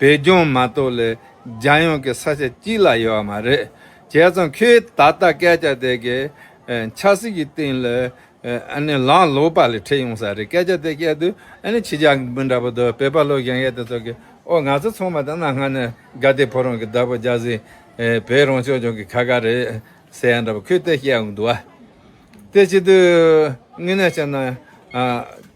བོད་ལྗོངས་མ་གཏོགས་ལས་རྒྱ་ཡོངས་ཀྱི་ས་ཆ་གཅིག་ལ་ཡོད་བ་མ་རེད། བྱས་ཙང་ཁོས་ད་ལྟ་སྐད་ཆ་དེ་གའི་ཆབ་སྲིད་ཀྱི་སྟེང་ལ་ལངས་ལོག་པ་ལས་འཕྲད་ཡོང་ས་རེད་སྐད་ཆ་དེ་སྐད་དུ་ཁྱི་ཇག་འབུ་འདྲ་པོ་དོ་བོད་པ་ལོ་གཞན་ཡས་དེ་ཚོ་གི་ཨོ་ང་ཚོ་ཚང་མ་དེ་གནའ་སྔ་ནས་དགའ་དད་ཕོ་རང་གི་བདག་པོ་རྒྱ་བཟི་བོད་རང་ཕྱོགས་ལྗོངས་ཀྱི་ཁ་ཁ་རེད་ཟེར་ཡ་འདྲ་པོ་ཁོས་དེ་བཤད་འདུག་བ་དེ་ཆེད་དུ་དངོས་གནས་བཤད་ན།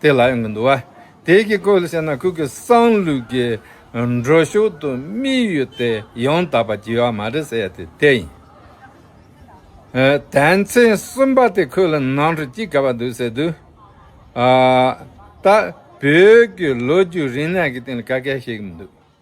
དེ་ལ་ཡོང་གི་འདུག་བ། དེ་གི་སྐོར་ལ་བཤད་ན་ཁོ་གི་སང་ལུགས་ཀྱི་འགྲོ་ཕྱོགས་དུ་དམིགས་ཡུལ་དེ་ཡང་དག་པ་བགྱི་བ་མ་རེད་ཟེར་ཡ་དེ་དེ་ཡིན། དད་མཚན་གསུམ་པ་དེ་ཁོ་ལ་ནང་ཁྲོད་ཅི་དགའ་བ་འདུག་ཟེར་དུས། ད་བོད་ཀྱི་ལོ་རྒྱུས་རིག་གནས་ཀྱི་སྟེང་ལ་ཀ་ཁལ་བཤད་གི་མི་འདུག།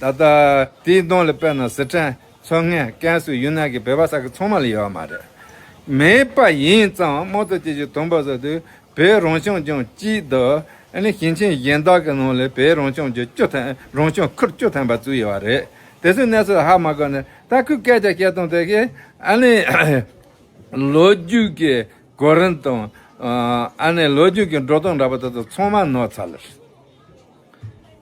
ད་ལྟ་དེའི་གདོང་ལ་དཔེར་ན་ཟི་ཁྲོན་མཚོ་སྔོན་ཀན་སུའུ་ཡུན་ནན་གྱི་བོད་པ་ས་ཁུལ་ཚང་མ་ལ་ཡོད་པ་མ་རེད། མེད་པ་ཡིན་ཙང་དམངས་གཙོ་སྐྱིད་ཆུའི་དུམ་བུ་སོགས་དུས་བོད་རང་སྐྱོང་ལྗོངས་སྤྱི་བསྡུ་ཞིང་ཆེན་གཞན་དག་གི་ནང་ལས་བོད་རང་སྐྱོང་ལྗོངས་བཅུ་ཐམ་རང་སྐྱོང་ཁུལ་བཅུ་ཐམ་པ་བཙུགས་ཡོད་པ་རེད། དེ་ཚོའི་གནས་ཚུལ་ལ་ཧ་མ་གོ་ནས་ད་ཁོས་སྐད་ཆ་བཤད་སྟངས་དེ་གས་ལོ་རྒྱུས་ཀྱི་གོ་རིམ་དང་ལོ་རྒྱུས་ཀྱི་འགྲོ་སྟངས་འདྲ་པོ་དེ་ཚོ་ཚང་མ་ནོར་ཚར་ལ།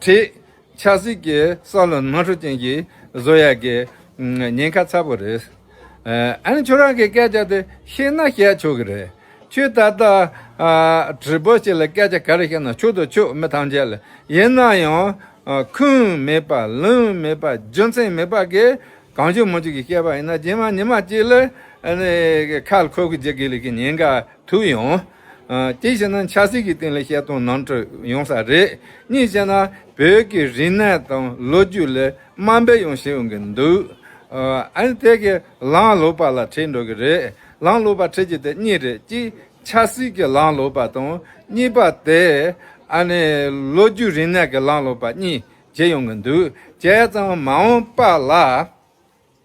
བྲིས། ཆགས་སྲེད་ཀྱི་ས་བློན་དམངས་ཁྲོད་ཅན་གྱི་བཟོ་ཡ་གི་ཉེན་ཁ་ཚ་པོ་རེད། ཨ་ནི་ཁྱོད་རང་གི་སྐད་ཆ་དེ་ཤེས་ན་བཤད་ཆོག་གི་རེད། ཁྱོས་ད་ལྟ་བྲིས་པོ་ཞིག་ལ་སྐད་ཆ་ག་རེ་བཤད་ན་ཆོག་དོ་ཆོག་མི་ཐམས་ཅད་ལ་ཡིན་ན་ཡང་ཁུངས་མེད་པ་ལུང་མེད་པ་རྒྱུ་མཚན་མེད་པ་གི་གང་བྱུང་མི་བྱུང་གི་བཤད་པ་ཡིན་ན་རྗེས་མ་ཉི་མ་གཅིག་ལ་ཁ་ལ་ཁོལ་ཁོལ་བྱེད་དགོས་ལུགས་ཀྱི་ཉེན་ཁ་ཐུག་ཡོང། གཅིག་བྱས་ན་ཆབ་སྲིད་ཀྱི་སྟེང་ལ་བཤད་སྟངས་ནང་ཁྲོལ་ཡོང་ས་རེད། གཉིས་བྱས་ན་བོད་ཀྱི་རིག་གནས་དང་ལོ་རྒྱུས་ལས་དམའ་འབེབས་ཡང་བྱེད་ཡོང་གི་འདུག་ཨཱ། དེ་གའི་ལངས་ལོག་པ་ལ་ཁྲེལ་འགྲོ་གི་རེད། ལངས་ལོག་པ་ཁྲེལ་རྒྱུ་དེ་གཉིས་རེད་གཅིག་ཆབ་སྲིད་ཀྱི་ལངས་ལོག་པ་དང་གཉིས་པ་དེ་ཨཱ་ནི་ལོ་རྒྱུས་རིག་གནས་ཀྱི་ལངས་ལོག་པ་གཉིས་བྱེད་ཡོང་གི་འདུག་བྱས་ཙང་མ་འོངས་པ་ལ།